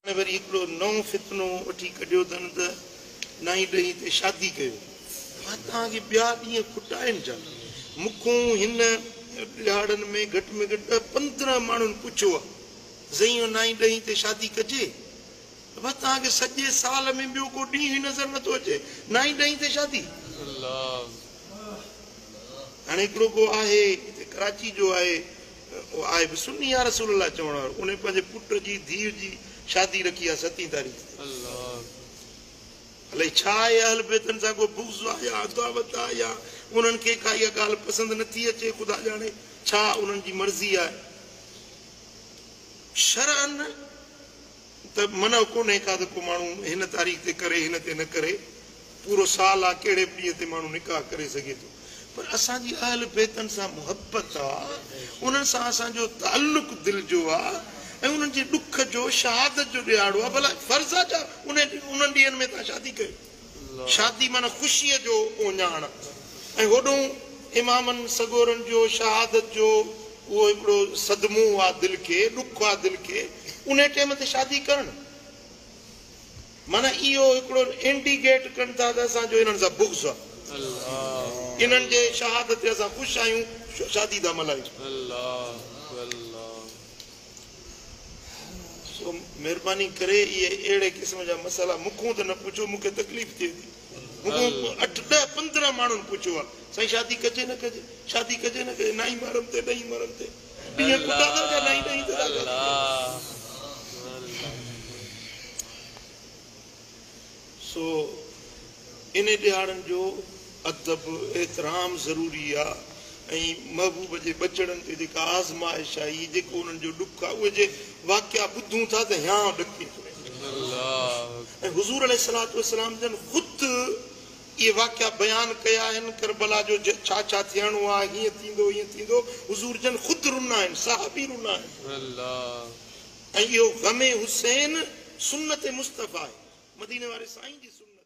هن وري هڪڙو نئون فتنو وٺي ڪڍيو اٿن ته نائين ڏهين تي شادي ڪيو. مان توهان کي ٻيا ڏينهن کوٽائين ڇا؟ مون کون هن ڏهاڙن ۾ گهٽ ۾ گهٽ ڏهه پندرهن ماڻهن پڇيو آ ته سائين اهو نائين ڏهين تي شادي ڪجي؟ ته بس توهان کي سڄي سال ۾ ٻيو ڪو ڏينهن ئي نظر نٿو اچي نائين ڏهين تي شادي؟ هاڻي هڪڙو ڪو آهي هتي ڪراچي جو آهي آء به سني يا رسول الله چوڻ وارو انهي پنهنجي پٽ جي ڌيء جي شادي رکي آ ستين تاريخ تي الائي ڇا اهي اهل بيتن سان ڪو بغض آ يا عداوت آ يا انهن کي ڪا اها ڳالهه پسند نه ٿي اچي خدا ڄاڻي ڇا انهن جي مرضي آهي شرعاً ته منع ڪونهي ڪا ته ڪو ماڻهو هن تاريخ تي ڪري هن تي نه ڪري پورو سال آ ڪهڙي به ڏينهن تي ماڻهو نڪاح ڪري سگهي ٿو پر اسان جي اهل بيتن سان محبت آ انهن سان اسان جو تعلق دل جو آ ۽ انهن جي ڏک جو شهادت جو ڏيهاڙو آ ڀلا فرض آ ڇا انهن ڏينهن ۾ تهان شادي ڪيو شادي معنيٰ خوشيء جو اوڃاڻ ۽ هوڏنهن امامن سڳورن جو شهادت جو اهو هڪڙو صدمو آ دل کي، ڏک آ دل کي، انهي ٽيم تي شادي ڪرڻ معنيٰ اهو هڪڙو انڊيگيٽ ڪن ٿا ته اسان جو انهن سان بغض آ، انهن جي شهادت تي اسان خوش آهيون، شادي ٿا ملهايون. سو مھرباني ڪري اھي اھڙي قسم جا مسئلا مون کون ته نه پڇو مون کي تڪليف ٿئي ٿي. مون کون اٺ ڏھ پندرهن ماڻھن پڇيو آ سائين شادي ڪجي نه ڪجي شادي ڪجي نه ڪجي نائين مھرم تي ڏھين مھرم تي ڏينھن پٽا ٿا اچن نائين ڏھين تي ٿا شادي ڪجي. سو انهي ڏيهاڙن جو ادب احترام ضروري آ ۽ محبوب جي ٻچڙن تي جيڪا آزمائش آئي، جيڪو انهن جو ڏک آ، اهي جي واقعا ٻڌون ٿا ته هيانء ڏڪي ٿو وڃي. ۽ حضور عليه الصلوة والسلام جن خود اهي واقعا بيان ڪيا آهن، ڪربلا جو ڇا ڇا ٿيڻو آ، هيئن ٿيندو، هيئن ٿيندو، حضور جن خود رنا آهن، صحابي رنا آهن. ۽ اهو غم حسين سنت مصطفيٰ آهي، مديني واري سائين جي سنت.